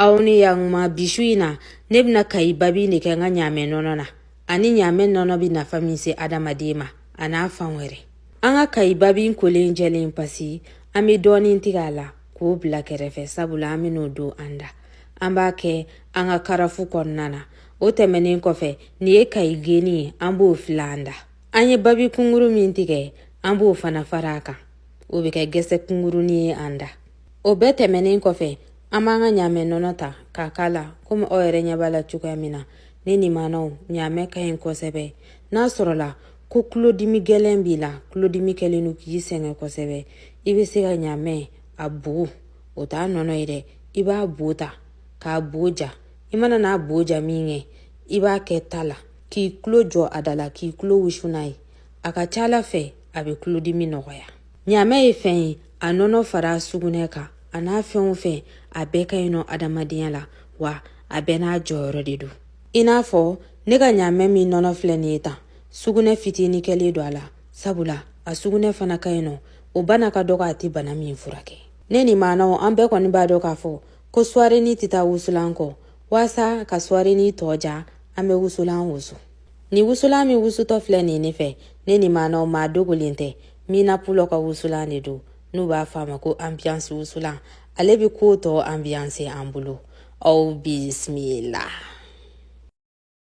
aw ni yakuma bi su in na ne bɛna kayi babi de kɛ n ka ɲaamɛ nɔnɔ na ani ɲaamɛ nɔnɔ bɛ nafa min se adamaden ma a n'a fan wɛrɛ an ka kayi babi kolen jɛlen pasi an bɛ dɔɔnin tigɛ a la k'o bila kɛrɛfɛ sabula an bɛn'o don an da an b'a kɛ an ka karafu kɔnɔna na o tɛmɛnen kɔfɛ nin ye kayi geni ye an b'o fili an da an ye babi kunguru min tigɛ an b'o fana fara a kan o bɛ kɛ gɛsɛ kungurunin ye an da o bɛɛ tɛmɛnen kɔfɛ an b'an ka ɲaamɛ nɔnɔ ta k'a k'a la komi aw yɛrɛ ɲɛ b'a la cogoya min na ne nimanaw ɲaamɛ ka ɲi kosɛbɛ n'a sɔrɔla ko tulodimi gɛlɛn b'i la tulodimi kɛlen don k'i sɛgɛn kosɛbɛ i bɛ se ka ɲaamɛ a bo o t'a nɔnɔ ye dɛ i b'a bo ta k'a bo ja i mana n'a bo ja min kɛ i b'a kɛ ta la k'i tulo jɔ a da la k'i tulo wusu n'a ye a ka ca ala fɛ a bɛ tulodimi nɔgɔya ɲaamɛ ye fɛn ye a nɔnɔ fara sugunɛ kan a n'a fɛn o fɛn a bɛɛ ka ɲi nɔ adamadenya la wa a bɛɛ n'a jɔyɔrɔ de don i n'a fɔ ne ka ɲaamɛ min nɔnɔ filɛ nin ye tan sugunɛ fitini kɛlen don a la sabula a sugunɛ fana ka ɲi nɔ o bana ka dɔgɔ a tɛ bana min furakɛ ne ni maanaw an bɛɛ kɔni b'a dɔn k'a fɔ ko suwarenin tɛ taa wusulan kɔ waasa ka suwarenin tɔ diya an bɛ wusulan wusu ni wusulan min wusutɔ filɛ nin ne fɛ ne ni maanaw maa dogolen tɛ Mina Pulɔ ka wusulan de don n'u b'a fɔ a ma ko ambiance wusulan ale bɛ ko tɔ ambiance an bolo aw bisimila